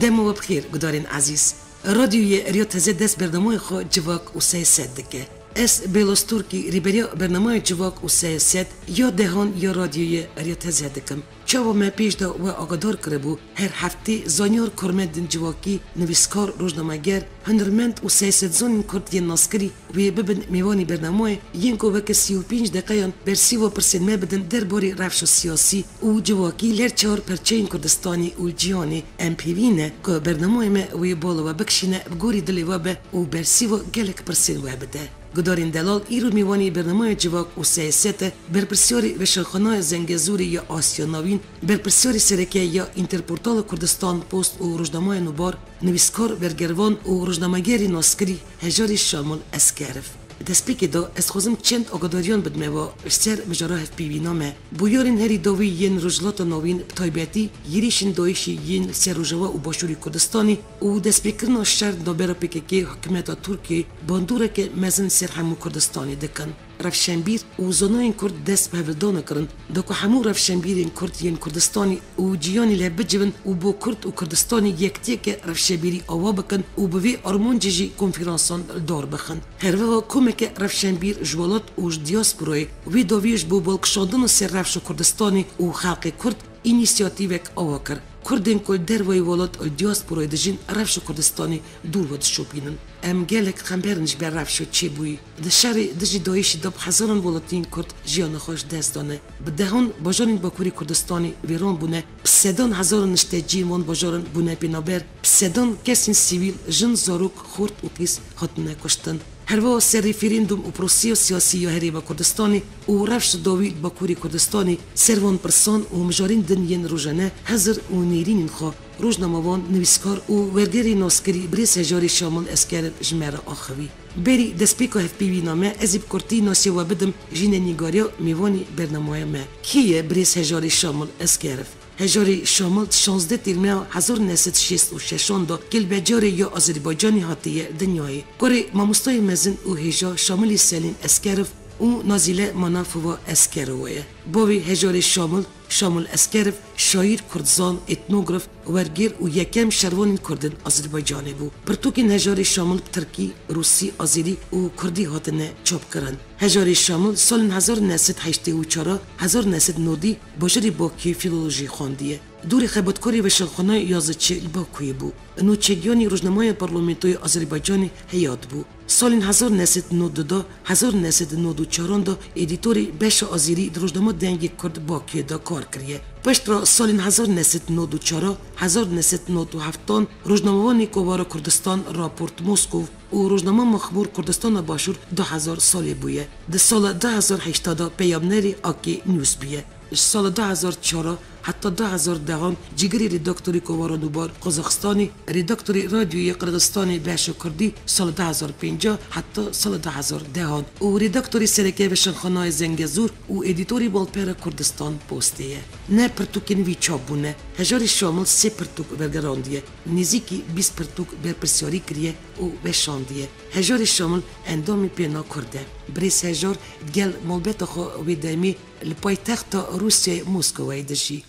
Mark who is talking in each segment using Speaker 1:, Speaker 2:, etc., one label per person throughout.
Speaker 1: Dema we bi xêr gudarên ezîz. Radyoyê Riya Teze dest bernameya xwe Civak û Sey Sed dike. Ez Bêloz Turkî rîberiya bernameya Civak û Sey Sed ya dehan ya Radyoyê Riya Teze dikim. Çawa me pêş de we agadar kiribû, her heftê zanyar, karmendên civakî, nivîskar, rojnameger, Hunermend û siyasetsonên kurd yên naskirî ku yê bibin mêvanê bernamoyê yên ku weke sî û pênc deqeyan bersiva pirsên me bidin der barê rewşa siyasî û civakî li her çar perçeyên Kurdistanê û cîhanê, em pêvîn e ku bernamoyê me wê bala we bikişîne bi gorî dilê we be û bersiva gelek pirsên we bide. Gudarên Delal îro mêvanê bernamoya Civak û Siyaset e, berpirsyarê Weşanxanaya Zengezûrê ya Asya Navîn, berpirsyarê sereke ya Înterportala Kurdistan Post û Rojnamaya Nûbar, Nivîskar, bergirvan û rojnamegerî naskirî Hejarî Şamil Eskerf, di destpêkê de ez dixwazim çend agadariyan bidime ba li ser mijara hevpîvîna me. Bûyerên herî dawî yên Rojhilata Navîn bi taybetî hêrîşên Daîşî yên li ser Rojava û Başûrê Kurdistanê û destpêkirina şer navbera pkk û hikûmeta Tirkiyeyê bandoreke mezin li ser hemû Kurdistanê dikin. Rewşenbîr û zonayên Kurd dest bi hevildana kirin. Da ku hemû rewşenbîrên Kurd yên Kurdistanê û cîyanê li hev bicivin û bo Kurd û Kurdistanê yektiyeke rewşebîrî awa bikin û bi vê armancê jî konferansan li dar bixin. Herwiha komeke rewşenbîr ji welat û ji diasporayê wê daviya ji bo balkişandina ser rewşa Kurdistanê û xelkê Kurd înîsiyatîvek awa kir. Kurdên ku li derveyî welat û diasporayê dijîn rewşa Kurdistanê dûr vedişopînin. Em gelek xember in ji ber rewşa çêbûyî. Di şerê dijî dayîşî de bi hezaran welatiyên Kurd jiyana xwe ji dest dane, bi dehan bajar ên Bakurê Kurdistanê wêran bûne, bi sedan hezaran nişteciyên wan bajaran bûne pênaber, bi sedan kesên sivîl, jin, zarok, xort û qîz hatine kuştin. Herweha ser rîferendûm û proseya siyasî ya Herêma Kurdistanê û rewş li dawî li Bakurê Kurdistanê ser van pirsan û mijarên din yên rojane hizir û nêrînên xwe rojnamevan, nivîskar û wergerê naskerî Birêz Hejarê Şamal Esker ji me re axivî. Berî destpêka hevpêvîna me ez ê bi kurtî nasê we bidim Jîne Nîgariya mêvanê bernameya me. Kê ye birêz Hejarê Şamil Eskerov? Hejarê Şamil di şazdeh Têrmeya hezar u neh sed û şêst û şeş an de gelbecarê ya Azerbaycanê hatiye dinyayê. Kurê Mamostayê Mezin û Hêja Şamilê Selîm Eskerov û Nazîle Manafiva Eskerowa ye. Bavê Hejarê Şamil, Şamul Eskerov, şaîr, kurdzan, etnograf, wergêr û yekem şervanên kurd in Azerbaycanê bû. Pirtûkên hejarê Şamul bi tirkî, rûsî, azerî û kurdî hatine çapkirin. Hejarê Şamul salên hezar u neh sed heştê û çar a hezar u neh sed nodî bajarê Bakuyê fîlolojî xwendiye. Dorê xebatkarê Veşelxana Yaziçi li Bakuyê bû. Nûçegiyanî rojnamaya Parlamentoya Azerbaycanê heyat bû. Salên hezar û neh sed û nod du de hezar û neh sed û nod û çaran de edîtorê beşa azêrî di rojnama Dengê Kurd Bakuyê de kar kiriye. Piştre salên hezar û neh sed û nod û çar a hezar û neh sed û nod û heft dan rojnamevanê Kovara Kurdistan, Rapport Moskov û rojnama Mexmûr Kurdistana Başûr du hezar salê bûye. Di sala du hezar û heştê de peyamnerê Akke News bûye. Ji sala du hezar û çar heta du hezar û deh cîgirê redaktorî Kovara Nûbar Qazaqstanê, redaktorê Radyoyê Qirgizistanê beşa Kurdî sala du hezar û pêncî heta sala du hezar û deh û redaktorê sereke Veşanxanaya Zengezûr û edîtorê Balpera Kurdistan Postê ye. Neh pirtûkên wî çap bûne. Hejarî Şamil sê pirtûk wergerandiye, nêzîkî bîst pirtûk berpirsyarî kiriye û weşandiye. Hejarî Şamil endamê pêna Kurd e. Birêz Hejar di gel malbata xwe wê demê, Li paytexta Rûsyayê Moskowayê dijî.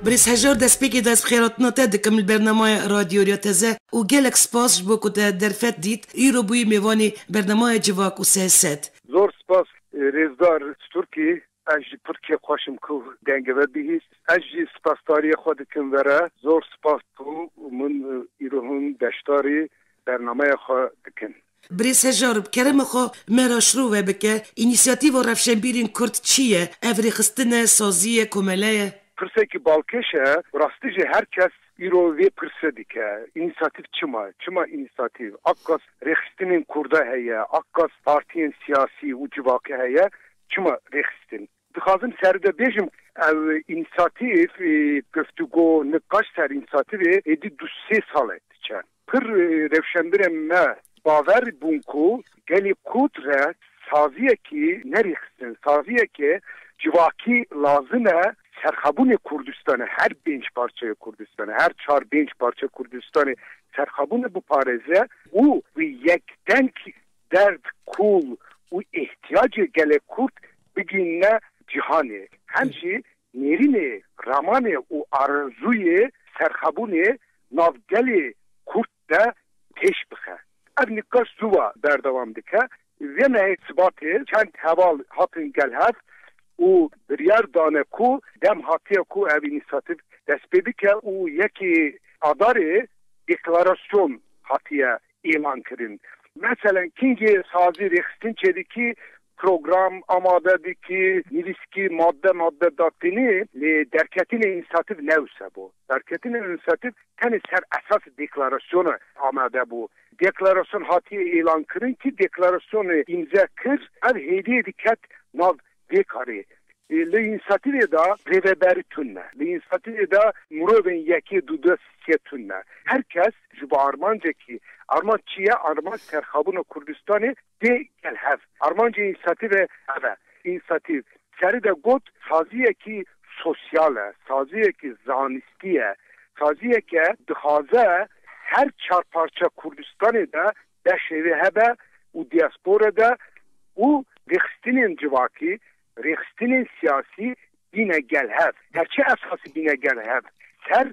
Speaker 1: Birêz Hejar destpêkê dest bi xêratina te dikim li bernamaya Radyo Rya Teze û gelek spas ji bo ku te derfet dît, îro bûyî mêvanê bernamaya Civak û Siyaset. Zor spas
Speaker 2: Rêzdar Stûrkî, Ez jî pir kêf xweş im ku dengê we bihîst. Ez jî spasdariyê xwe dikim we re. Zor spas ku min îro hûn beşdarî bernameya xwe dikin. Birêz Hejar, bi
Speaker 1: kerema xwe me re şiro ve bike, Înîsiyatîva Rewşenbîrên Kurd çi ye? Ev rêxistin e, sazî ye, komele ye? Pirsekî balkêş
Speaker 2: e, bi rastî jî her kes Îro vê pirse dike, Înîsatîv çi ma? Çi ma înîsatîv? A qas rêxistinên kurda heye, a qas partiyên siyasî û civakî heye, çi ma rêxistin? Dixwazim seride bêjim, ev înîsatîv, guftûgo, niqaş ser înîsatîvê êdî du sê sal e diçe. Pir rewşenbirê me bawer bûn ku gelê kurd re saziyekî nerêxistin, saziyeke civakî lazim e serxwebûnê Kurdistanê, her pênc parçeyê Kurdistanê, her çar pênc parçeyê Kurdistanê serxwebûnê biparêze û wî yek deng derd, kûl û îhtiyacê gelê kurd bigihîne cîhanê. Hem jî Nêrînê, ramanê û arezûyê serxwebûnê nav gelê Kurd de pêş bixe. Ev nîqaş zûwa berdewam dike. Vê mehê Sibatê çend heval hatin gel hev û biryar dane ku dem hatiye ku ev înîsatîv dest pê bike û yekê Adarê deklarasyon hatiye êlan kirin. Meselen kingê sazî rêxistin çêdikî, program amade dikî, nivîskî madde madde datînî lê derketinê înîsatîv ne wisa bû. Derketinê înîsatîv tenê ser esasê deklarasyona amade bû. Deklarasyon hatîye êlan kirin kî deklarasyonê îmze kir ev hêdîyê diket nav Dê karê. Li înîsiyatîvê de rêveberî tund ne. Li înîsiyatîvê de mirovên yekê du dest sike tund ne. Her kes ji bo armancekî, armanc çi ye? Armanc serxabûna Kurdistanê tê gel hev. Armancê înîsiyatîvê ev e. Înîsiyatîv serî de got saziyekî sosyal e, saziyekî zanistî ye, saziyeke dixwaze her çar parça Kurdistanê de Deh şêve hebe û diaspora de ku rêxistinên civakî, rêxistinên siyasî bîne gel hev. Her çi esasî bîne gel hev ser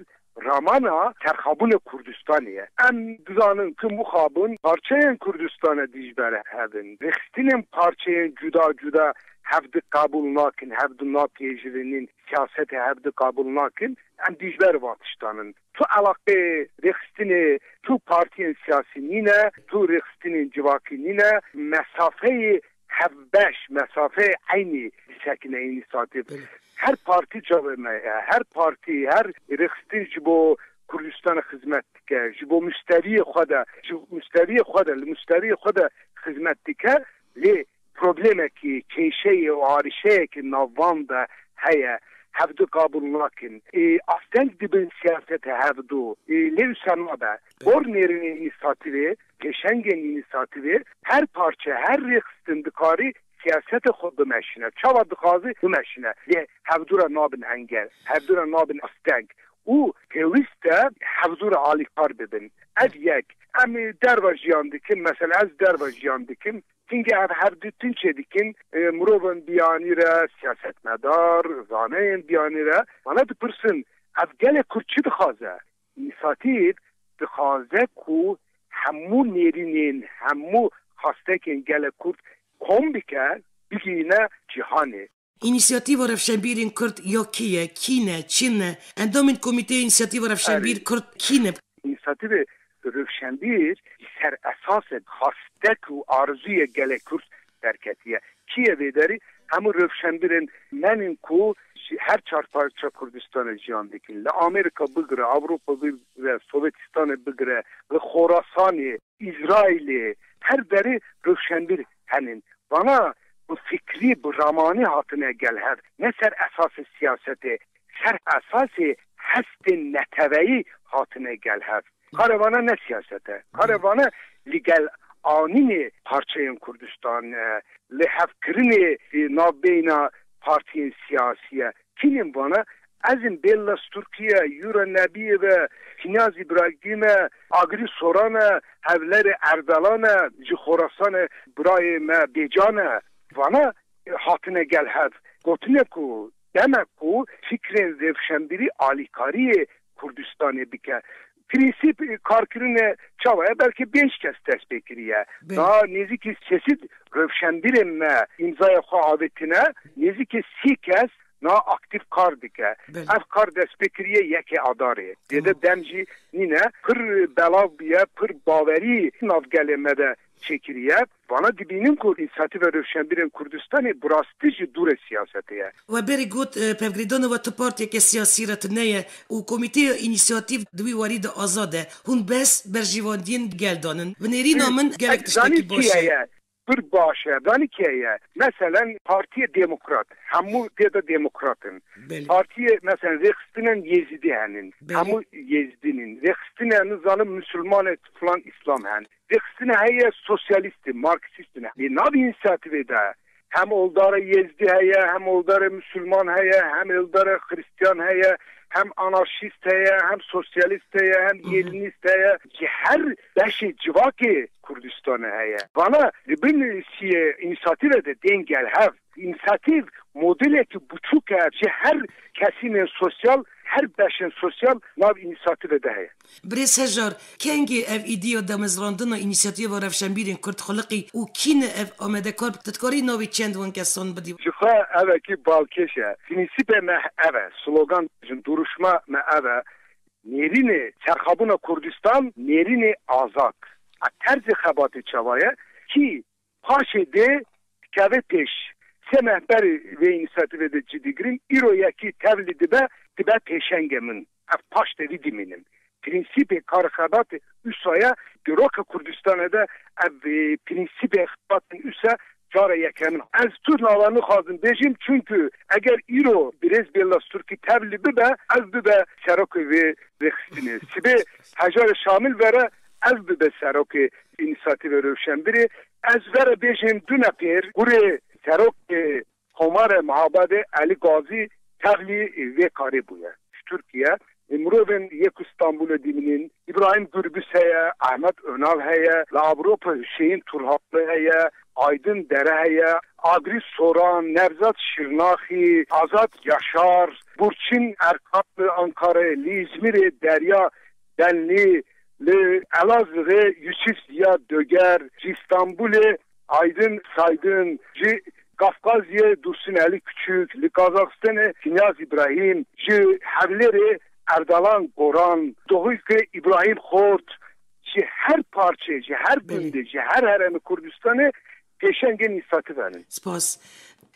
Speaker 2: ramana terxabûna Kurdistanê ye. Em dizanin ku mixabin parçeyên Kurdistana dijbere hev in. Rêxistinên parçeyên cuda cuda hev di qebûl nakin, hev di napêjirînin, siyasetê hev di qebûl nakin. Em dijber van tiştan in. Tu eleqê rêxistinê tu partiyên siyasî nîne, tu rêxistinên civakî nîne, mesafeyê hevbeş, mesafeyê eynî disekine eynî satê. Her partî çavê me ye, her partî, her rêxistin ji bo Kurdistanê xizmet dike, ji bo muşteriyê xwe de, ji muşteriyê xwe de, li muşteriyê xwe de xizmet dike lê Problemekî, kêşeyê û arîşeyeke navvan de heye. Hevdu qabûl nakin. Asteng dibin siyasetê hevdu. Lê wisa nabe. Bor nêrînê înîsatîvê, pêşengên înîsatîvê, her parçe, her rêxistin dikarî siyasetê xwe bimeşîne. Çawa dixwaze bimeşîne. Lê hevdu re nabin engel. Hevdu re nabin asteng. Û pêwîst e hevdu re alîkar bibin. Ev yek. Em derve jiyan dikin. Mesela ez derve jiyan dikim. Tîngê ev her du tîn çê dikin, mirovên biyanî re, siyasetmedar, zaneyên biyanî re. Wana dipirsin, ev gelê kurd çi dixwaze? Înîsatîf dixwaze ku hemû nêrînên, hemû xastekên gelê kurd kom bike, bigihîne cîhanê. Înîsiyatîva
Speaker 1: Rewşenbîrên Kurd ya kê ye, kî ne, çi ne? Endamên Komîteya Înîsiyatîva Rewşenbîr Kurd kî ne? Înîsiyatîvê
Speaker 2: Rewşenbîr li ser esasê xastek û arzûyê gelê Kurd derketiye. Kî ye vê derî? Hemû rewşenbîrên me ne ku ji her çar parça Kurdistanê jiyan dikin. Li Amerîka bigire, Ewropa bigire, Sovetistanê bigire, li Xorasanê, Îsraîlê her derê rewşenbîr henin. Vana bi fikrî, bi ramanê hatine gel hev, ne ser esasê siyasetê, ser esasê hestên neteweyî hatine gel hev. Kare vana ne siyaset e. Kare vana li gel anînê parçeyên Kurdistan e, li hev kirinê navbeyna partiyên siyasî ye. Tînên vana ezin bên la Sturkiye, Yura Nebiyev e, Hînaz Îbragîm e, Agirî Soran e, Hevlerê Erdalan e, ji Xorasanê birayê me Bêcan e. Vana hatine gel hev, gotine ku demek ku fikrên rêvşenbîrî alîkariyê Kurdistanê bike, Prensîp karkirinê çawa ye? Belkî pênc kes dest pê kiriye. Niha nêzîkî sesîd rewşenbîrên me îmzaya xwe avêtine, nêzîkî sî kes niha aktîf kar dike. Ev kar dest pê kiriye yekê Adarê. Dê de dem jî nîne. Pir belav bûye, pir bawerî nav gelê me de Çêkiriye, Vala dibînim ku Înîsyativa Rewşenbîrên Kurdistanê bi rastî jî dûr e siyasetê ye. We berî got,
Speaker 1: pevgirêdana we ti partiyeke siyasî re tuneye û komîteya Înîsyativ di wî warî de azad e. Hûn behs berjîvandiyên gel dan in. Bi nêrîna min gelek tiştekî baş e. Pir baş e.
Speaker 2: Zanî kê ye? Meselen Partiyê Demokrat, hemû dê de demokrat in. Partiyê meselen rêxistinên Yêzîdî henin. Hemû Yêzîdî nîn. Rêxistinên nizanim Musulman e, filan Îslam henin. Têxistina heye sosyalist e, marksist e. Lê nav însiyatîvê de hem oldare Yêzdî heye, hem oldare Musulman heye, hem oldare Xirîstiyan heye, hem anarşîst heye, hem sosyalist heye, hem Yêlinîst heye. Ji her beşê civakê Kurdistanê heye. Vana li bin sî însiyatîve de tên gel hev. Însiyatîv modelekî biçûk e ji her kesînên sosyal, her beşên sosyal nav însiyatîve de heye. Birêz Hejar,
Speaker 1: Kengê ev îdiya damezrandina Înîsiyatîva Rewşenbîrên Kurd xiliqî û kî ne ev amadekar bi? Tu dikarî navê çend win kesan bidî? Jixwe ev ekî
Speaker 2: balkêş e. Prînsîpê me ev e, slogan jin duruşma me ev e, Nêrînê çerxabûna Kurdistan, nêrînê azad. A terzê xebatê çawa ye? Kî Paşê dê dikeve pêş. Sê meh berê vê înîsiyativê de cidî girim, îro yekî tevlî dibe, dibe pêşengê min. Ev paş tevî dimînin. Prînsîpê karê xebatê usa ye, di roka Kurdistanê de ev prînsîpê xebatên usa cara yekeme in. Ez tu nava nixwazim bêjim, çunku eger îro birêz Bêllas Turkî tevlî bibe, ev bibe serokê vê rêxistinê. Sibê hejarê Şamil vere, Ev bibe serokê Înîsatîvê Rewşenbîrê. Ez vere bêjin du nepêr gurê serokê Komarê Mihabadê Elî Gazî tevlî vê karê bûye. Ji Tirkiye mirovên yê ku Stenbolê dîmînîn, Îbrahîm Gurbis heye, Ahmet Önal heye, li Ewropa Huseyîn Turhakli heye, Aydin Dere heye, Agris Soran, Nevzat Şirnaxî, Azad Yaşar, Burçin Erkal li Ankarayê, li Îzmîrê Derya Ben nî li Elazığê Yusuf Ziya Döger, ji Stenbulê Aydın Saydın, ji Kafkazyê Dursun Ali Küçük, li Kazaxistanê Kinyaz İbrahim, ji Hewlêrê Erdalan Goran, Dohukê İbrahim Xort, ji her parçê, ji her gundê, ji her heremê Kurdistanê, Pêşengên nîsativ henin. Spas.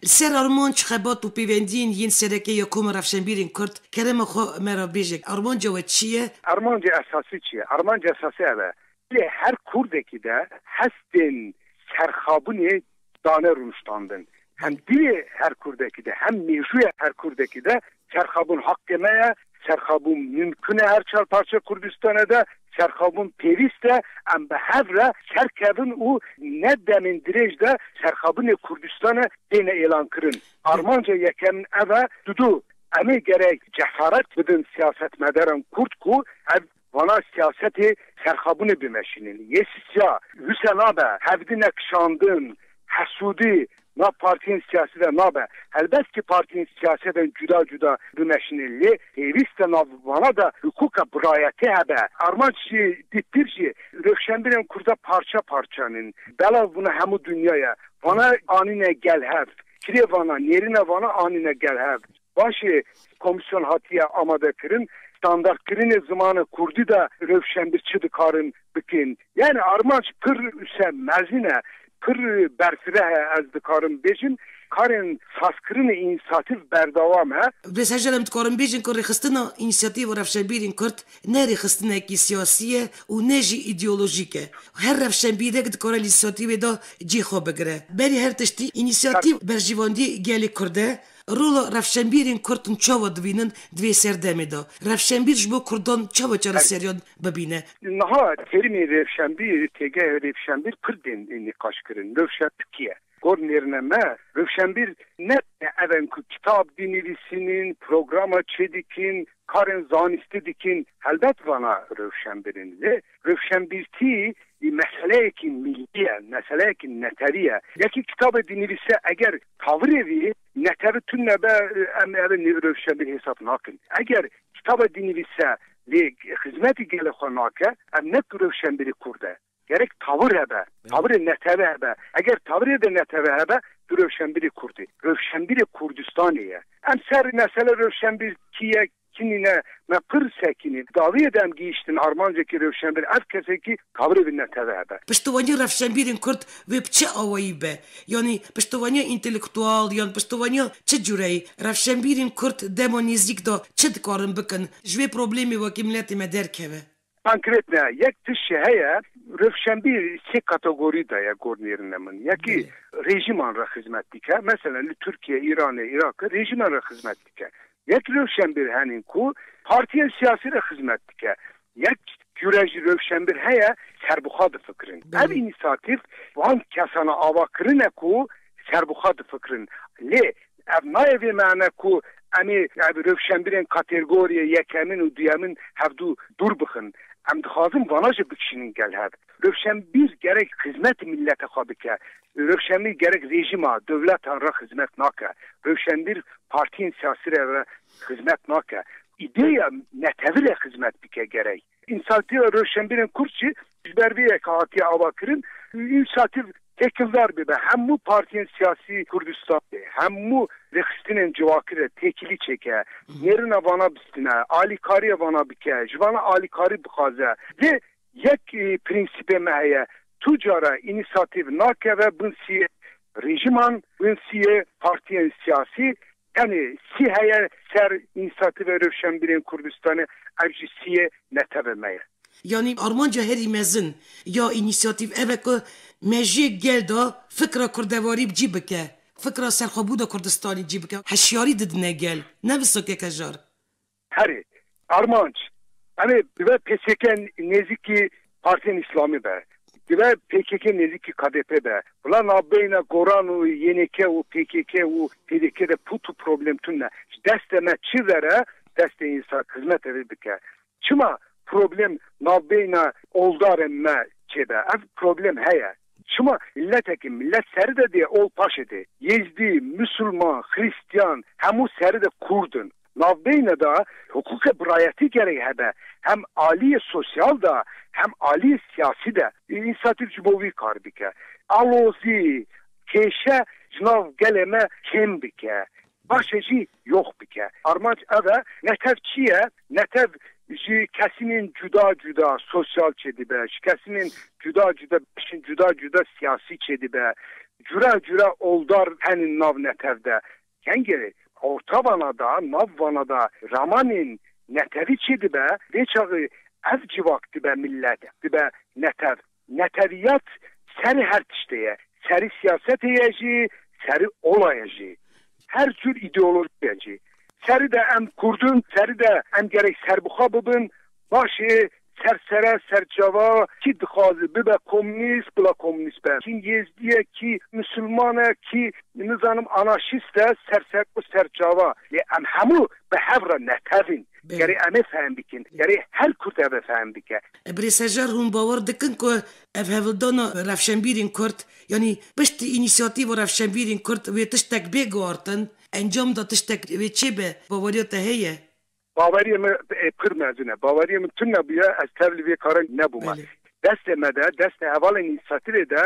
Speaker 1: Li ser armanc, xebat û pêwendiyên yên sereke ya Koma Rewşenbîrên Kurd, kerema xwe me re bêje, armanca we çi ye? Armanca esasî
Speaker 2: çi ye? Armanca esasî ev e, dilê her Kurdekî de hestên serxabûnê dane rûniştandin. Hem dilê her Kurdekî de, hem mêjûya her Kurdekî de Serxwebûn heqê me ye, serxwebûn mumkun e her çar parçeya Kurdistanê de, serxwebûn pêwîst e, em bi hev re serkevin û ne demên dirêj de serxwebûnê Kurdistanê têne êlankirin. Armanca yekem ev e, didu em ê gerek cesaret bidin siyasetmedaran Kurd ku ev Vana siyasetê serxabûnê bimeşînin. Yê sisya wisa nabe. Hevdi ne kişandin, hesûdî nav partiyên siyasî de nabe. Helbet ki partiyên siyasî bên cuda cuda bimeşînin lê pêwîst e nav vana de hukûka birayetî hebe. Armanc jî dît pir jî rewşenbîrên kurda parça parçan in. Belav bûne hemû dinya ye. Vana anîne gel hev. Kirê vana, nêrîna vana anîne gel hev. Baş e, komîsyon hatiye amadekirin, standartkirinê zimana kurdî de rewşen bi çi dikarin bikin. Yanî armanc pir use mezin e, pir berfireh e ez dikarim bêjim, karên sazkirinê înîsatîv berdewam e. Vê ser jî em dikarin
Speaker 1: bêjin ku rêxistina înîsatîva rewşenbîrên kurd ne rêxistinekî siyasî ye û ne jî îdeolojîk e. Her rewşenbîrek dikare li înîsatîvê de cihê xwe bigire. Berî her tiştî, înîsatîv berjîvandîyê gelê kurd e Rola rewşenbîrên kurd çawa dibînin di vê serdemê de? Rewşenbîr ji bo kurdan çawa çareseriyan bibîne? Niha terîmê
Speaker 2: rewşenbîr, têgehê rewşenbîr kurd ên ê nîqaş kirin, rewşa tikî ye. Gor nêrine me, rewşenbîr ne tenê ev in ku kitab dinivîsînin, programa çêdikîn, karên zanistî dikîn, helbet vana rewşenbîr in. Lê rewşenbîrtî meseleyekî mîllî ye, meseleyekî neterî ye. Yekî kitabê dinivîse eger. Tavîrê vî netevi tund nebe, em ev ê nêv rewşa bê hêsab nakin. Eger kitaba dînî vîse lê xizmetî gelê xwe nake, ev ne ku rewşenbîrî kurd e. Gerek tavîr hebe, tavîrê netevi hebe. Eger tavîrê de netevi hebe, tu rewşenbîrê kurd î. Rewşenbîrê Kurdistanê ye. Em ser mesele rewşenbîr kî ye, Çinî ne, me pir sekinîn. Dawiyê de em gihîştin armancekî rewşenbîr, ev kesekî kabrê bi netewê hebe. Piştevaniya rewşenbîrên
Speaker 1: kurd wê bi çi awayî be? Yanî piştevaniya întelektual yan piştevaniya çi cureyî? Rewşenbîrên kurd dema nêzîk de çi dikarin bikin ji wê problemê wekî miletê me derkeve? Konkretne
Speaker 2: yek tiştê heye, rewşenbîr sê kategorî de ye gor nêrine min. Yekî rêjîman re xizmet dike. Meselen li Tirkiye, Îranê, Îraqê rêjîman re xizmet dike. Yek rewşenbîr henîn ku partiyên siyasî re xizmet dike. Yek cure jî rewşenbîr heye serbixwe difikirin. Ev înîsatîf van kesana ava kirine ku serbixwe difikirin. Lê Ev nayê vê meane ku em ê rewşenbîrên katergoriyê yekemin û duyemin hevdu dûr bixin. Em dixwazin vana jî bikişînin gel hev. Rewşenbîr gerek xizmet milete xwe bike. Rewşenbîr gerek rejîma, dewletan re xizmet nake. Rewşenbîr partiyên siyasî re re xizmet nake. Îdeya netewî re xizmet bike gerek. Înîsiyatîva Rewşenbîrên Kurd jî ji ber vê yekê hatiye avakirin û înîsiyatîv têkildar bibe hemû partiyên siyasî Kurdistanê, hemû rêxistinên civakî re têkilî çêke, nêrina vana bistine, alîkariyê vana bike, ji vana alîkarî bixwaze. Lê yek prensîbê me heye, tu cara înîsiyatîv nakeve bin siyê rêjîman, bin siyê partiyên siyasî, Tenê sî heye ser Înîsyativa Rewşenbîrên Kurdistanê, ev jî sîyê netewê me ye. Yanî
Speaker 1: armanca herî mezin ya Înîsyativ ev e ku me ji gel de fikra kurdevarî bi cî bike, fikra serxwebûna Kurdistanê cî bike. Hişyarî didine gel, ne bi sokeke jar. Herê.
Speaker 2: Armanc. Em ê bi ve pkk nêzîkî partiyên îslamî be. Di ve pkk nêzîkî KDP be. Wila navbeyna Goran û YNK û pkk û pdk de pût û problem tund e. Ji destê me çi vere destê însan xizmetê vê bike. Çima problem navbeyna oldarên me çê be. Ev problem heye. Çima miletekî milet seri de dê ol paşê dê. Yêzdî, misulman, xirîstiyan hemû seri de kurd in. Navbeyne de hiqûqê birayetî gerek hebe, hem aliyê sosyal de hem aliyê siyasî de. Înîsiyatîf ji bo wî kar dike. Alozî, kêşe ji nav gelê me kêm bike. Paşê jî yox bike. Armanc ev e, netew çi ye? Netev ji kesînên cuda cuda sosyal çêdibe, ji kesînên cuda cuda beşên cuda cuda siyasî çêdibe. Cure cure oldar henin nav netev de. Kengê orta vana de, nav vana de ramanên netewî çê dibe, vê çaxê ev civak dibe millet, dibe netew. Netewîyat serê her tiştê ye. Serî siyasetê ye jî, serî ola ye jî. Her cûr îdeolojî ye jî. Serî de em Kurd in, serî de em gerek serbixwe bibin. Baş e, ser sere, ser çava, kî dixwaze bibe komnîst, bila komnîst be. Kî yêzdî ye, kî misilman e, kî nizanim anaşîst e, ser ser û ser çava. Lê em hemû bi hev re netev in. Gerê em ê fehm bikin. Gerê her kurd ev ê fehm bike. Birê Sejar hûn
Speaker 1: bawer dikin ku ev hevildana rewşenbîrên kurd, yanî piştî înîsiyatîva rewşenbîrên kurd wê tiştek bê guhartin, encam da tiştek wê çêbe, baweriya te heye? Baweriyê
Speaker 2: me pir mezin e. Baweriyê min tune bûye, ez tevlî vê karê nebûme. Destê me de, destê hevalên Îsraîlê de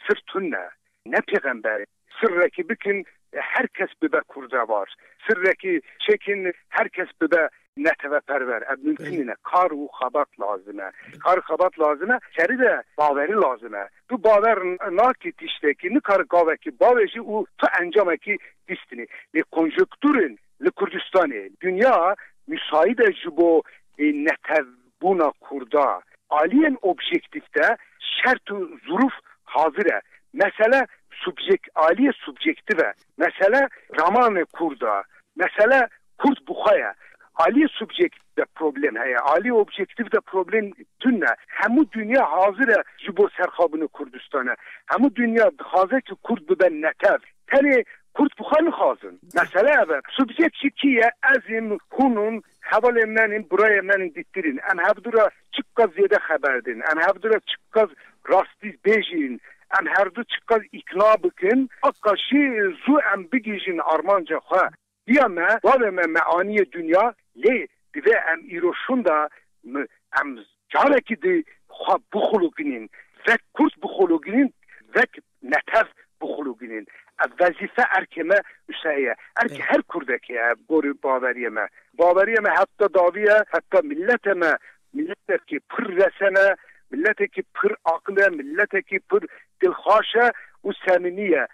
Speaker 2: sir tune. Ne pêxemberê. Sirekî bikin her kes bibe kurdevar. Sirekî çêkin her kes bibe neteweperwer. Ev mumkin nîne. Kar û xebat lazim e. Kar û xebat lazim e. Serî de bawerî lazim e. Tu bawer nakî tiştekî, nikare gavekî bavêjî û tu encamekî bîstinî. Lê konjukturên. Li Kurdistanê dinya misaîd e ji bo netewbûna Kurdan. Aliyên objektîf de şert û zirûf hazir e. Mesele subjek aliyê subjektif e. Mesele ramanê Kurd e. Mesele Kurd bi xwe ye. Aliyê subjek de problem heye. Aliyê objektîf de problem tune. Hemû dinya hazir e ji bo serxabûnê Kurdistanê. Hemû dinya dixwaze ki Kurd bibe netew. Tenê Kurd bi xwe nixwazin. Mesele ev e. Subject jî kî ye? Ez im, hûn in, hevalên men in, birayên men in, dîtir in. Em hevdu re çiqas zêde xeber din. Em hevdu re çiqas rastî bêj in. Em herdu çiqas îkna bikin. Aqaşî zû em bigihîjin armanca xwe. Diya me, bavê me me aniye dinya, lê divê em îro şunda mi em carekî di xwe bixuluginîn, vek Kurd bixuluginîn, vek netev bixuluginîn. Ev wezîfe erkê me wisa ye, erkê her Kurdekê ye gorî baweriyê me. Baweriyê me heta dawî ye, heta miletê me miletekî pir resen e, miletekî pir aqil e, miletekî pir dilxwaş e û semîmî ye.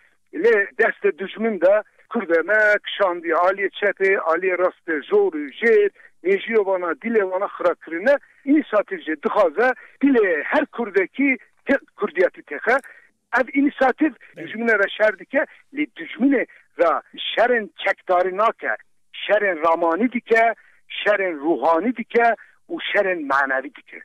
Speaker 2: Lê destê dijmin de kurdê me kişandî aliyê çepê, aliyê rastê jor û jêr, mêjiyê wana, dîlê wana xira kirine. Înîsatîf jî dixwaze dîlê her kurdekî tê kurdiyetî têxe. Ev înîsatîf dijminê re şer dike lê dijminê re şerên çekdarî nake, şerên ramanî dike, şerên ruhanî dike û şerên manevî dike.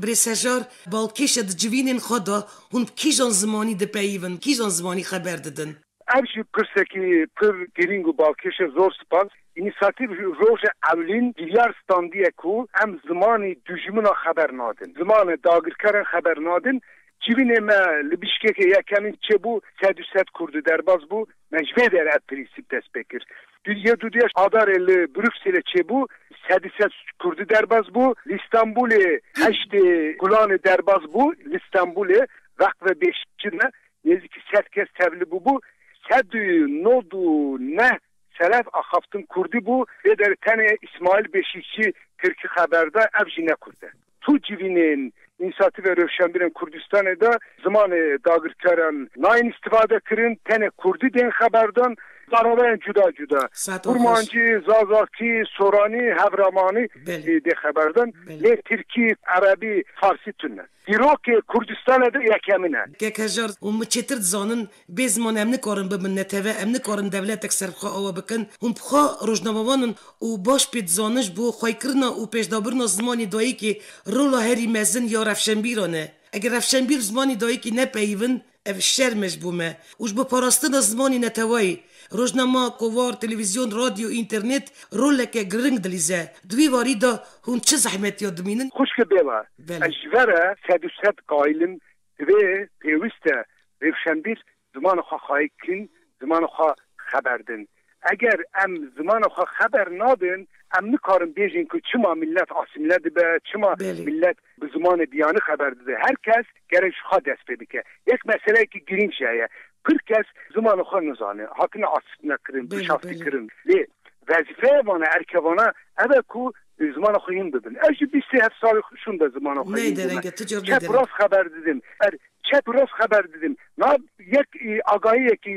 Speaker 2: Birê Sejar,
Speaker 1: Balkêş e di civînên xwe de hûn bi kîjan zimanî dipeyivin, kîjan zimanî xeber didin? Ev
Speaker 2: jî pirsekî pir girîng û balkêş e. Zor spas. Înîsatîv ji roja ewlîn giryar standiye ku em zimanî dûjimina xeber nadin. Zimane dagirkeran xeber nadin. Civînê me li Bişkekê yekemîn çêbû sed û sed kurd û derbas bû. Me ji vê der ev prînsîp dest pê kir. Di yê du diya adarên li Brukselê çêbû, sedî sed Kurdî derbas bû. Li Stenbolê heştê Gulanê derbas bû. Li Stenbolê Veqve Bêhşîşî de nêzîkî sed kes tevli bûbû. Sed û nod û neh seref axaftin Kurdî bû. Lê derê tenê Îsmaîl Bêhşîşî Tirkî xeber da, ev jî ne Kurd e. Tu civînên înîsatîvên rewşenbîrên Kurdistanê de zimanê dagirkeran nayên îstifade kirin, tenê kurdî tên xeberdan da reweyên cuda cuda, kurmancî, zazakî, soranî, hevramanî jî dê xeberdan, lê tirkî, erebî, farsî tune. Dîrokê Kurdistanê de yekemîn e. Kekhejar û min
Speaker 1: çêtir dizanin Bê ziman em nikarin bibin neteweh, em nikarin dewletek ser bi xwe awe bikin. Hûn bi xwe rojnamevan in û baş pê dizaniş bo xwekirina û pêşdabirina zimanê dayikê rola herî mezin ya rewşenbîran e. Eger rewşenbîr zimanê dayikê nepeyivin ev şerm e ji bo me û ji bo parastina zimanê neteweyî. Rojnama, kovar, televîzyon, radyo, înternêt roleke giring dilîze. Di wî warî de hûn çi zehmetiya dimînin? Xwişke bêva,
Speaker 2: ez ji ve re sed û sed qayil im Divê pêwîst e rêwşenbîr zimanê xwe xayî bikin, zimanê xwe xeber din. Eger em zimanê xwe xeber nadin, em nikarin bêjin ku çima milet asîmle dibe, çima milet bi zimanê biyanî xeber dide. Her kes gerek ji xwe dest pê bike. Yek meseleyekî girîng jî heye. Pir kes zimanê xwe nizane, hatine asîmlekirin, bişaftikirin. Lê vezîfeya van e, erkê van e, ev e ku, Bi zimana xwe hîn bibin. Ez ji bîst sê heft salî şûn be zimana xwe hîn bûme. Çep û rast xeber didim. Er çep û rast xeber didim. Na yek agahiyekî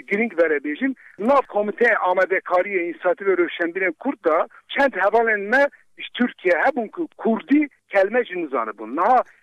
Speaker 2: girîng vere bêjim. Nav Komîteya Amadekariyê Înîsiyatîvê Rewşenbîrên Kurd de çend hevalên me ji Tirkiyeyê hebûn ku kurdî kelme jî nizanibûn. Niha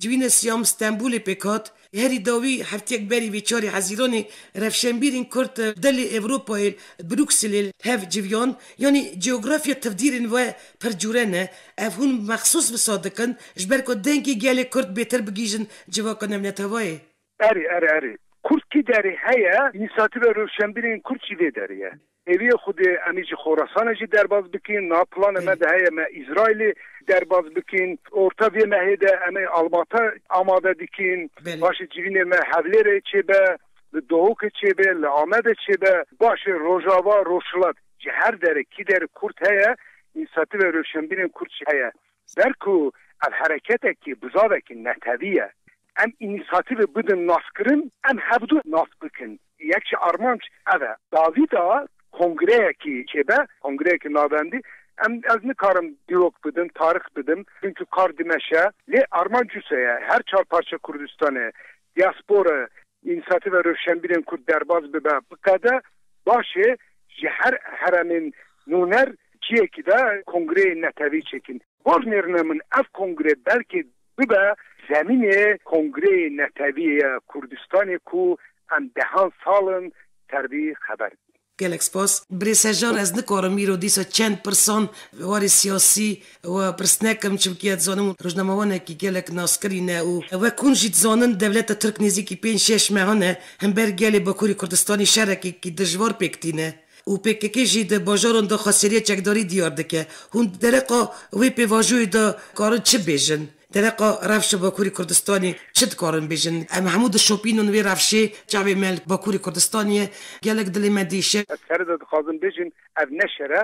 Speaker 1: Civîne Siyam Stenbolê pêk hat. Herî dawî hefteyek berî vê çarê Hezîranê rewşenbîrên Kurd di li Ewropayê li Brukselê li hev civiyan. Yanî coğrafya tevdîrên we pir cure ne. Ev hûn mexsûs wisa dikin ji ber ku dengê gelê Kurd bêtir bigihîjin civaka navnetewayê. Erê, erê, erê.
Speaker 2: Kurd kî derê heye? Înîsiyatîva Rewşenbîrê yên Kurd jî vê derê ye. Hêviyê xwe dê em ê ji Xorasanê jî derbas bikin. Niha planê me de heye me Îsraîlê derbas bikin. Orta vê mehê de em ê Almata amade dikin. Paşê civînê me Hewlêrê çêbe, li Dohokê çêbe, li Amedê çêbe. Paşê Rojava, Rojhilat. Ji her derê kî derê Kurd heye, Înîsiyatîva Rewşenbîrê yên Kurd jî heye. Ber ku ev hereketekî bizavekî netewî ye, em înîsatîvê bidin naskirin, em hevdu nas bikin. Yek ji armanc ev e. Davîda kongreyekî çêbe, kongreyekî navendî, em ez nikarim dîrok bidim, tarix bidim, çunku kar dimeşe. Lê armanc wisa ye, her çar parça Kurdistanê, diaspora, Înîsiyatîva Rewşenbîrên Kurd derbas bibe biqede, baş e ji her heremên nûner ciyekî de kongreyên netewî çêkin. Por nêrine min ev kongre belkê bibe zemînê kongreyê netewî ya Kurdistanê ku em dehan sal in ser vî xeber bînin. Gelek spas
Speaker 1: Birê Sejan ez nikarim îro dîsa çend pirsan warê siyasî we pirs nekim çimkî ez dizanim rojnamewanekî gelek naskirî ne û wek hûn jî dizanin dewleta Tirk nêzîkî pênc şeş mehan e himber gelê Bakurî Kurdistanî şerekekî dijwar pêk tîne û pkk jî di bajaran de xweseriya çekdarî diyar dike hûn di dereqa wê pêvajoyê de karin çi bêjin? Dereqa rewşa Bakurê Kurdistanê çi dikarin bêjin? Em hemû dişopîn û wê rewşê çavê me li Bakurê Kurdistanê ye. Gelek dilê me diêşe. Ez here de dixwazim
Speaker 2: bêjim ev ne şer e,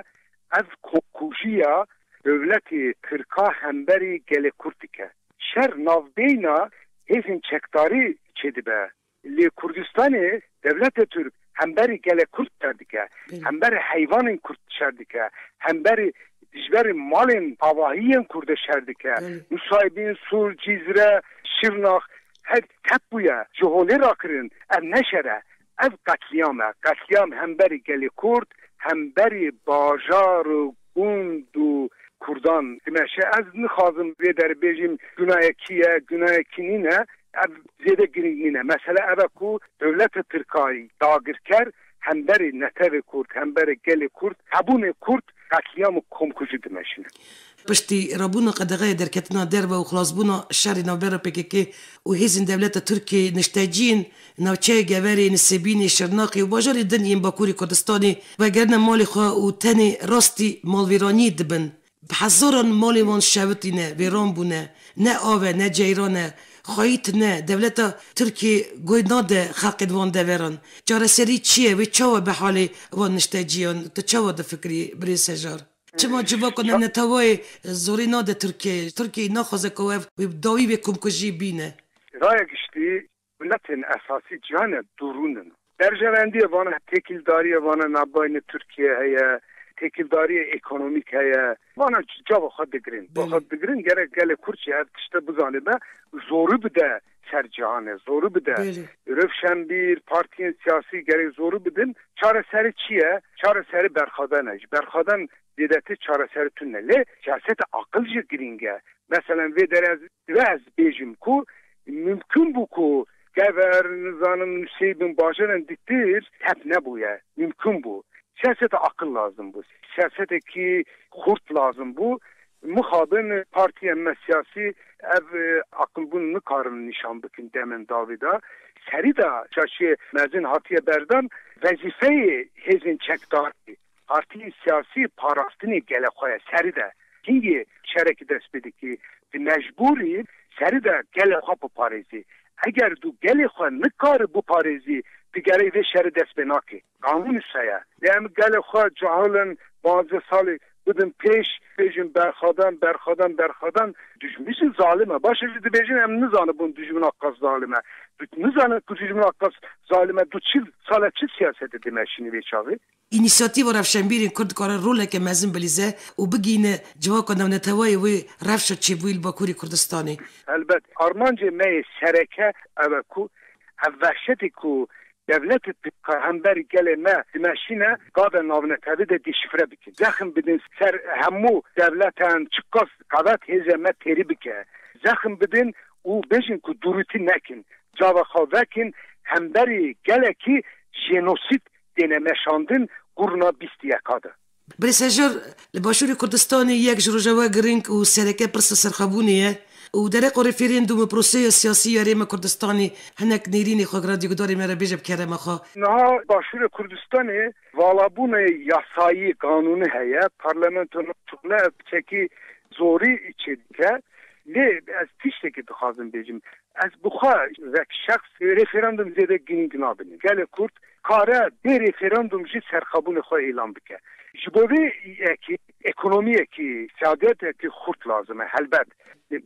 Speaker 2: ev kokujiya dewletê tirka hemberî gelê kurd dike. Şer navbeyna hêzên çekdarî çêdibe. Li Kurdistanê dewletê Tirk hemberî gelê Kurd şer dike, hemberî heyvanên Kurd şer dike, hemberî dijberî malên avahiyên Kurdê şer dike. Nusaybîn, Sur, Cîzre, Şirnax her tep bûye, ji holê rakirin. Ev ne şer e, ev qetlîam e. Qetlîam hemberî gelê Kurd, hemberî bajar û gund û kurdan dimeşe. Ez nixwazim vê derê bêjim gunayê kî ye, gunayê kî nîne, ev zêde girîng nîne. Mesele ev e ku dewleta tirkayî dagirker hemberî netewê kurd, hemberî gelê kurd, hebûnê kurd qetlîam û komkujî dimeşine. Piştî
Speaker 1: rabûna qedexeyê derketina derve û xilasbûna şerê navbera pkk û hêzên dewleta tirkî niştecî yên Navçeya Geverê, Nisêbînê, Şirnexê û bajarê din yên Bakûrê Kurdistanê vegerine malê xwe û tenê rastî malvêraniyê dibin. Bi hezaran malên wan şewitîne, vêran bûne. Ne av e, ne ceyran e. Xweyî tune, dewleta Tirkiyê guh nade xelkên wan deveran. Çareserî çi ye? Wê çawa be halê wan nişteciyan? Tu çawa difikirî birêz Sejar? Çima civaka neneteweyê zorê nade Tirkiyeyê? Tirkiyeyê naxwaze ku ev wê bi dawî vê komkujiyê bîne. Raya giştî,
Speaker 2: Miletên esasî ciya ne, dûrûn in. Berjewendiyê van e, têkildariyê van e navbeyne Tirkiyeyê heye, têkildariyê ekonomîk heye. Van e cava xwe digirin. Belê. Xwe digirin gerek gelê Kurd jî ev tişte bizanibe, zorî bide ser cihanê, zorî bide. Belê. Rewşenbîr, partiyên siyasî gerek zorî bidin. Çareserî çi ye? Çareserî berxweden e. Ji berxweden zêdetî çareserî tune. Lê siyaseta aqil jî girîng e. Meselen vê derê ez divê ez bêjim ku, Mumkin bû ku Gever, nizanim Nusêybin, Bajaran diktir tep nebûye. Mumkin bû. Siyaseta aqil lazim bû. Siyasetekî xurt lazim bû. Mixabin partiyên me siyasî ev aqilbûn nikarin nîşan bikin demên dawî de. Serî de şaşiyê mezin hatiye berdan. Wezîfeyê hêzên çekdarî Partiyên siyasî parastinên gelê xwe ye serî de hingê şerekî dest pê dike. Di mecbûrî serî de gelê xwe biparêzî. Eger tu gelê xwe nikarî biparêzî tu gerek vê şerî dest pê nakî. Qanûn îşa ye. Lê em gelê xwe cahil in panzdeh salî bidin pêş bêjin berxwedan berxwedan berxwedan. Dijmin jî zalim e. Baş e jî dibêjin em nizanibûn dijmina qas zalim e. Tu nizanin ku dijmina qas zalim e tu çil sal e çi siyasetê dimeşînî vê çavê? Înîsiyatîva
Speaker 1: rewşenbîrên Kurd dikare roleke mezin bilîze û bigihîne civaka newnetewayê wê rewşa çêbûyî li Bakurê Kurdistanê. Helbet
Speaker 2: armancê me yê sereke ew e ku ev vehşetî ku dewlet û pkk hember gelê me dimeşîne gave navnetewî de dîşifre bikin. Zexm bidin ser hemû dewletan çiqas qewet hêzê me têrî bike. Zexm bidin û bêjin ku dûrûtî nekin. Cava xwe vekin hemberî gelekî jenosîd têne meşandin qurna bîst yeka de. Birsejor,
Speaker 1: Li Başûrê Kurdistanê yek ji rojawa girîng û sereke pirsa serxwebûnê ye û dere ku rêfêrên dû me proseya siyasî ya rê me Kurdistanê hinek nêrînê xwe giradî gudarê me re bêje bi kerema xwe. Niha Başûrê
Speaker 2: Kurdistanê valabûnê yasayî, qanûnî heye, parlamento naçûkne ev bi çekî zorî çêdike. Lê ez tiştekî dixwazim bêjim, Ez bi xwe vek şexs referandum zêde girîng nabînim. Gelê Kurd kare bê referandum jî serxwebûnê xwe îlan bike. Ji bo vê yekê ekonomiyekî, siyadetekî xurt lazim e. Helbet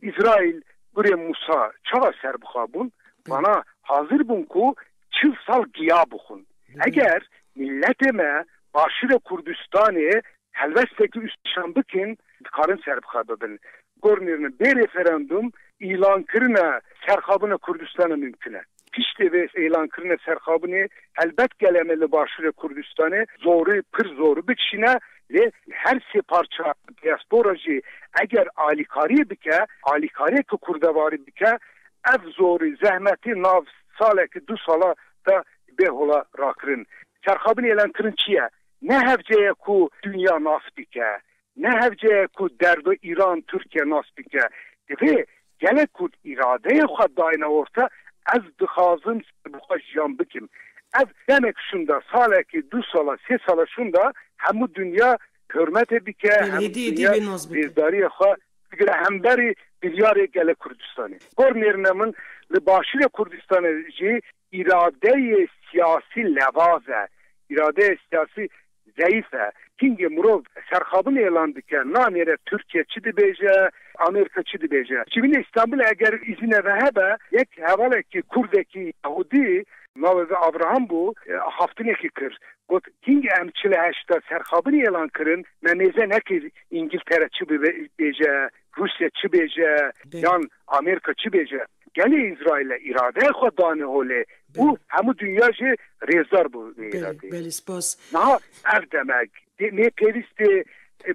Speaker 2: Îsraîl, kurê Mûsa çawa serbixwe bûn? Vana hazir bûn ku çil sal giya bixwin. Eger mîletê me Başûrê Kurdistanê Helweste ku îşan bikin dikarin serbixwe bibin. Gornêrine bê referandum îlankirina serxabina Kurdistanê mimkun e. Piştê vê îlankirina serxabinê helbet gelê me li başûrê Kurdistanê zorî pir zor bikişîne lê her sê parça diaspora jî eger alîkariyê bike, alîkariyeke kurdevarî bike ev zorî zehmetî nav salekî du sala de bê hola rakirin. Serxabinê îlankirin çi ye? Ne hevce ye ku dinya nas bike, ne hevce ye ku derdo Îran, Tirkiye nas bike. Divê gelê Kurd îradeyê xwe dayne orta, ez dixwazim serbixwe jiyan bikim. Ev demek şunda, salekê, du sala, sê sala şunda hemû dinya hurmetê bike, hemû dinya rêzdariyê xwe bigire hemberî biryarê gelê Kurdistanê. Gor nêrîna min li başûrê Kurdistanê jî, Îradeyê siyasî nevaz e, îradeyê siyasî zeyîf e. Hingê mirov serxabin êlan dike, nanêre Tirkiye çi dibêje, Amerîka çi dibêje. Ji binê Îstanbulê eger îzine ve hebe, yek hevalekî kurdekî yahûdî, navê ve Avraham bû, haftinekî kir. Got, hingê em çil û heşt de serxabin êlan kirin, me mêze nekir Îngiltere çi bibêje, Rûsye çi bêje, yan Amerîka çi bêje. Gelê Îsraîlê îradeya xwe da niho lê û hemû dinya jî rêzdar bû vê îradeyê. Niha
Speaker 1: ev
Speaker 2: demek nê pêvîstê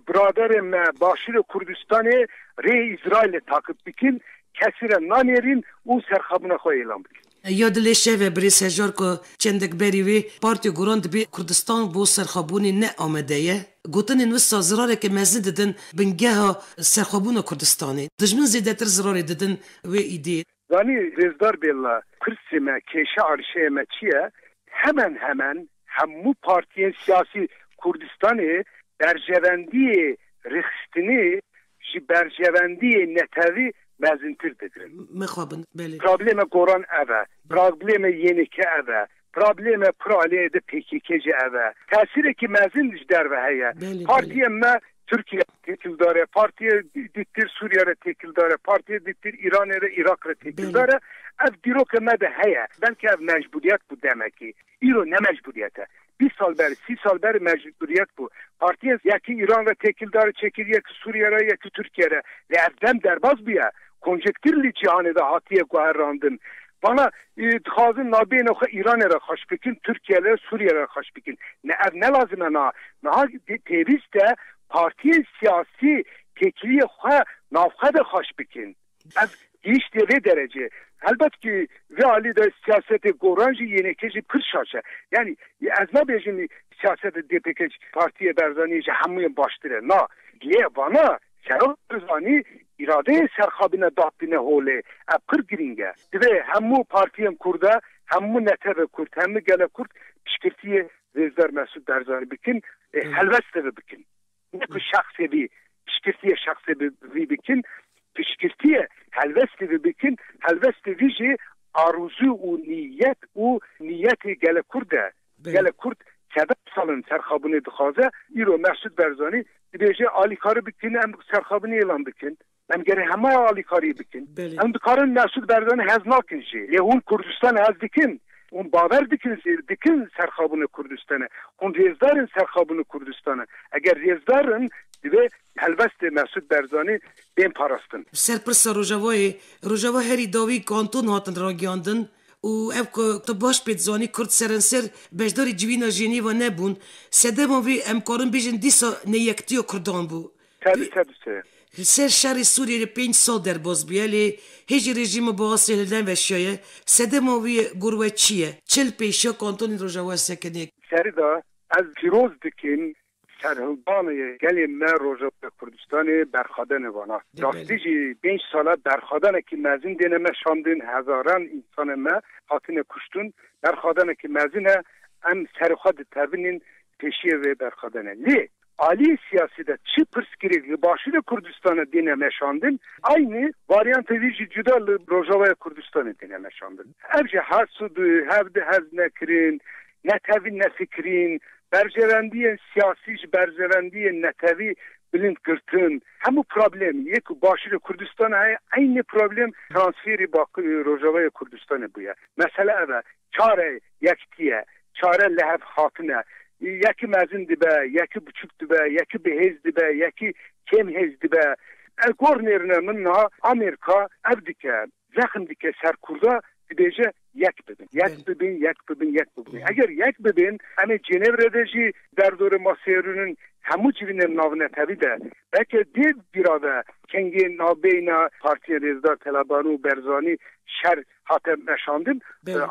Speaker 2: biraderên me Başûrê Kurdistanê rêyê Îsraîlê taqîb bikin, kesî re nanêrîn û serxabûna xwe îlan bikin. Ya dilê şev e
Speaker 1: Birêz Hejar ku çendek berî wî partî guran dibî Kurdistan bo serxabûnê ne amade ye. Gotinên wisa zirareke mezin didin bingeha serxwebûna Kurdistanê. Dijmin zêdetir zirarê didin wê îdê. Zanî Rêzdar
Speaker 2: Bêlla, Kursê me, kêşa erşeyê me çi ye? Hemen hemen hemû partiyên siyasî Kurdistanê berjevendiyê rêxistinê ji berjevendiyê netewî mezintir digirin. Mixabin, belê.
Speaker 1: Prablême goran
Speaker 2: ev e. Prablême yêneke ev e. Prablême kura lê di pkk jî ev e. Tesîrekî mezin ji derve heye. Partiyên me Tirkiye re têkildar e, partiyê dîttir Sûriye re têkildar e, partiyê dîttir Îranê re Îraq re têkildar e. Ev dîrokê me de heye. Belkî ev mecbûriyet bû demekî. Îro ne mecbûriyet e. Bîst sal berê, sî sal berê mecbûriyet bû. Partiyên yekî Îran re têkildar çêkir, yekî Sûriye re, yekî Tirkiye re. Lê ev dem derbas bûye. Konjektirlî cîhanê de hatiye guherandin. Bala dixwazin navbeyên xwe Îranê re xweş bikin, Tirkiyeyê re, Sûriyeyê re xweş bikin. Ne ev ne lazim e na. Niha pêwîst e partiyên siyasî têkiliyê xwe navxwe de xweş bikin. Ev gihîştiye vê derecê. Helbet kî vê alî de siyasetê goran jî yêneke jî pir şaş e. Yanî ez nabêjim siyasetê DPKC, Partiyê Berzaniyê ji hemûyan baştir e. Na. Lê vana Serok Barzanî, Îradeyê serxabine dad tîne holê. Ev pir girîng e. Divê hemû partiyên kurd e, hemû netewê kurd, hemû gele kurd piştgirtiyê Rêzber Mesûd Barzanî bikin ê helweste ve bikin. Ne ku şexsê vî piştgirtiyê şexsê vî bikin. Piştgirtiyê helwestê vî bikin. Helwestê vî jî arûzû û nîyet û nîyetê gele kurd e. Gelek Kurd çevev sal in serxabûnê dixwaze, îro Mehsûd Berzanî dibêje alîkarî bikin em serxabûnê îlan bikin, em gerê hema alîkarî bikin. Em dikarin Mehsûd Berzanî hez nakin jî lê hûn Kurdistan hez dikin, hûn bawer dikin jî dikin serxabûna Kurdistana, hûn rêzdar in serxabûna Kurdistana. Eger rêzdar in divê helwestê Mehsûd Berzanî bên parastin. Serpirsa Rojavayê,
Speaker 1: Rojava herî dawî kanton hatin ragiyandin. Û ev ku tu baş pê dizanî kurd serenser beşdarî civîna Jenêva nebûn. Sedema vê em karin bêjin dîsa neyektiya kurdan bû. Tedi tedi te. Li ser şerê Sûriyê re pênc sal derbas bûye lê hê jî rejîma Baasê li den ve şiyaye. Sedema wî gor we çi ye? Çil pêşiya kantonên Rojava sekiniye. Serida
Speaker 2: ez pîroz dikim Serhildanê gelê me Rojava Kurdistanê berxwedene vana. Rastî jî pênc sal e berxwedanekî mezin dêne me şandin, hezaran însanên me hatine kuştin. Berxwedanekî mezin e, em serê xwe ditevinîn pêşiyê vê berxwedanê. Lê aliyê siyasî de çi pirsgirêk li Başûrê Kurdistanê dêne me şandin, eynî varyantê wî jî cuda li Rojavayê Kurdistanê dêne me şandin. Ev jî her sud û hev di hez nekirin, netewî nefikirîn, berjevendiyên siyasî ji berjevendiyên netewî bilind girtin. Hemû problêm yê ku Başûrê Kurdistanê heye eynî problêm transfêrî Bakurê Rojavayê Kurdistanê bûye. Mesele ev e. Çare yekitî ye. Çare lihevhatin e. Yekî mezin dibe, yekî biçûk dibe, yekî bi hêz dibe, yekî kêm hêz dibe. Ev gor nêrine min niha Amerîka ev dike. zexm dike ser Kurda dibêje yek bibin, yek bibin, yek bibin, yek bibin. Eger yek bibin em ê Cenevre de jî derdorê maseyê rûnin hemû civînên navnetewî de belke dê bîra be kengên navbeyna Partiyên Rêzdar, Telaban û Berzanî şer hate meşandin.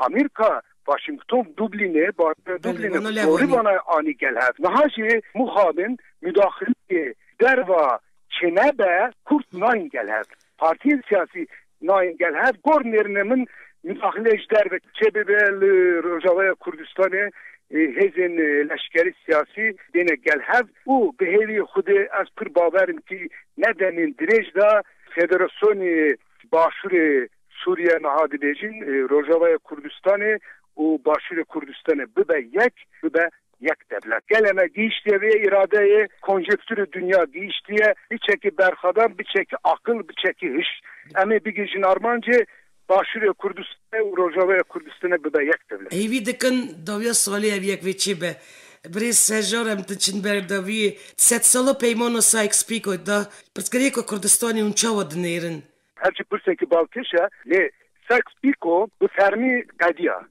Speaker 2: Amerîka Washington Dublînê bajarê Dublînê gorî vana anî gel hev. Niha jî mixabin mudaxileyê derva çênebe Kurd nayên gel hev. Partiyên siyasî nayên gel hev gor nêrine min mudaxile ji derve çê bibe li Rojavaya Kurdistanê hêzên leşkerî siyasî dêne gel hev û bi hêvî xwedê ez pir bawer im kî ne demên dirêj de Federasyonê Başûrê Sûriye niha dibêjin Rojavaya Kurdistanê û Başûrê Kurdistanê bibe yek bibe Yek dewlet. Gelê me gihîştiye vê îradeyê, konjekturê dinya gihîştiye, biçekî berxwedan, biçekî aqil, biçekî hiş. Em ê bigihîjin armancê Başûrê Kurdistanê û Rojavayê Kurdistanê bibe yek dewlet. Hêvî dikin dawiya
Speaker 1: salê ev yek vê çê be. Birêz Serjar em diçin ber dawiyê. Sedsala Peymana Sykes-Picot de
Speaker 2: pirsgirêka Kurdistanê
Speaker 1: hûn çawa
Speaker 2: dinêrin? Her çi
Speaker 1: pirseke
Speaker 2: balkêş
Speaker 1: e
Speaker 2: lê
Speaker 1: Sykes
Speaker 2: Picot bi fermî qediya.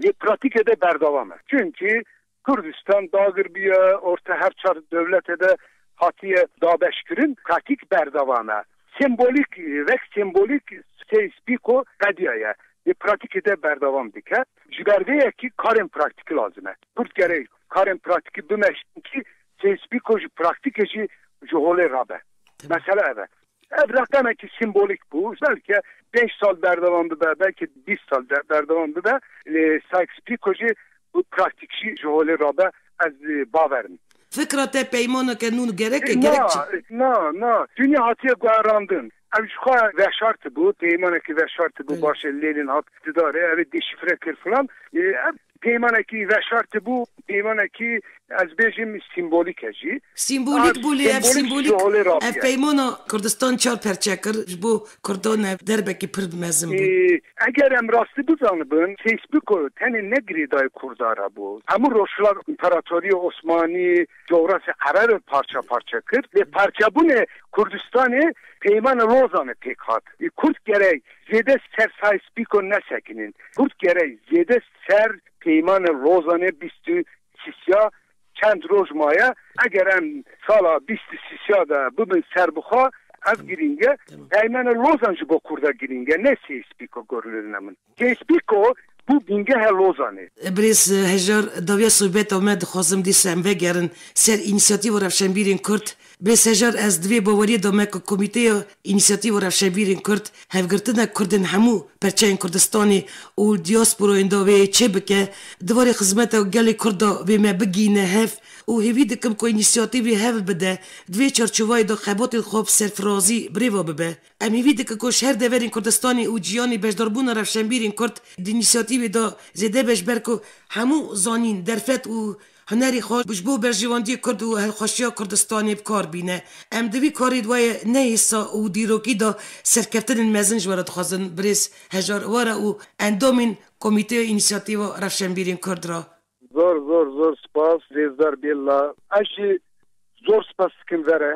Speaker 2: Lê pratîkê de berdewam e. Çimkî Kurdistan dagir bûye, orta her çar dewletê de hatiye dabeşkirin, pratîk berdewam e. Sembolîk, wek sembolîk Sykes Picot qediyaye. Lê pratîkê de berdewam dike. Ji ber vê yekî karên praktîkî lazim e. Kurd gerek karên praktîkî bimeşin kî Sykes Picot ji praktîkê jî ji holê rabe. Mesela ev e. Ev reqemekî sîmbolîk bû. Belke pênc sal berdewam bibe, belke bîst sal berdewam bibe. Lê Sykes-Picot jî û praktîk jî ji holê rabe ez bawer im. Fikra te
Speaker 1: peymaneke nû gerek e? Gerek çi? Na, na,
Speaker 2: na. Dûnya hatiye guherandin. Ev jixwe veşartibû, peymanekî veşartibû, baş e lêlin hat didarê, ev ê deşîfre kir filan. Ev Peymanekî veşar tibû, peymanekî ez bêjim sîmbolîk e jî. Sîmbolîk bû lê ev
Speaker 1: sîmbolîk ev peymana Kurdistan çar perçe kir ji bo Kurdan ev derbekî pir mezin bû. Eger em
Speaker 2: rastî bizanibin Fêsbûk tenê ne girêdayê Kurda re bû. Hemû rojhilat Împaratoriya Osmanî cografya Erebê parça parça kir lê parçebûnê Kurdistanê peymana Lozanê pêk hat. Kurd gerek Zêde ser Sais Pîko nesekinin. Kurd gerek zêde ser Peymanê Lozanê bîst û sîsya çend roj maye. Eger em sala bîst û sîsya de bibin serbixwe ev girîng e. Peymanê Lozan ji bo Kurda girîng e ne Sais Pîko gorîlina min. Sais Pîko bû bîngeha Lozanê. Birêz Hejar,
Speaker 1: Dawiya sohbeta me dixwazim dîsa em vegerin ser înîsiyatîva rewşenbîrên Kurd. Bê sejar ez di vê baweriyê de me ku Komîteya Înîsiyatîva Rewşenbîrên Kurd hevgirtina Kurdên hemû perçeyên Kurdistanê û dîasporayên da wê yê çêbike, di varê xizmeta gelê Kurd da wê me bigihîne hev û hêvî dikim ku înîsiyatîv wê hev bide di vê çarçovayê de xebatên xwe bi serfirazî birêve bibe. Em hêvî dikin ku ji her deverên Kurdistanê û cîhanê beşdarbûna rewşenbîrên Kurd di înîsiyatîvê de zêde beş ber ku hemû zanîn, derfet û Hunerê xwe ji bo berjewendiyê Kurd û hilxweşiya Kurdistanê bi kar bîne. Em di vî karê di wayê neyêsa û dîrokî de serkeftinên mezin ji we re dixwazin birêz Hejar Iwara û endamên Komîteya Înîsiyatîva Rewşenbîrên Kurd re. Zor zor zor
Speaker 2: spas Rêzdar Bêlla. Ez jî zor spas dikim ve re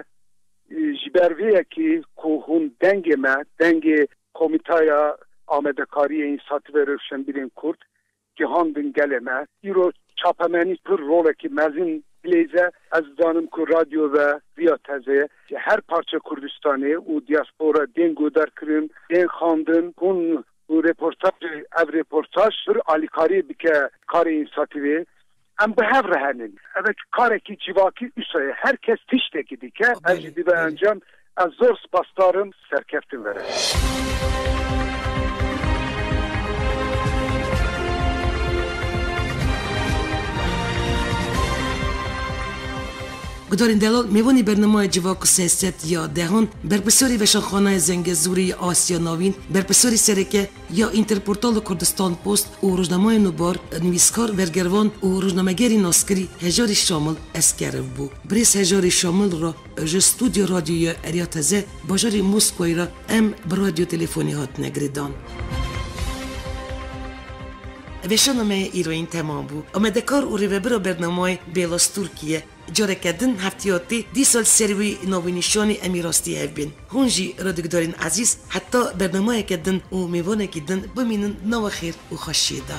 Speaker 2: ji ber vê yekê ku hûn dengê me, dengê Komîteya Amadekariyê Înîsiyatîva Rewşenbîrên Kurd Gihandin gelê me. Îro çapemenî pir rolekî mezin bilêze. Ez dizanim ku radyo ve viya tezê ji her parçe Kurdistanê û diaspora tên guhdarkirin, tên xandin. Hûn û rêportajê ev rêportaj pir alîkariyê dike karê însatîvê. Em bi hev re hene. Ev karekî civakî wisa ye. Her kes tiştekî dike. Ev jî dibe encam. Ez zor spasdar im. Serkeftin vere.
Speaker 1: Gudarên delal mêvanê bernamaya Civak û Siyaset ya dehan, Berpirsiyarê Veşanxaneya Zengezûrê ya Asya Navîn, Berpirsiyarê Sereke, Ya Înterportal û Kurdistanpost û rojnameyên Nûbar, nivîskar, bergervan û rojnamegerî naskirî Hejarî Şamil Eskerov bû. Birêz Hejarî Şamil ra ji Studya Radyoya Erya Teze bajarê Moskowayê ra em bi radyo telefonî hatine girêdan. Veşarnameya îro yên temam bû. Amedekar û rêvebira bernameyê Bêlas Tirkiye. Careke din heftiyatî dîsal ser wî navnîşanî em ê rastî hev bên. Hûn jî radikdarên ezîz heta bernameyeke din û mêvanekî din bimînin di nava xêr û xweşiyê de.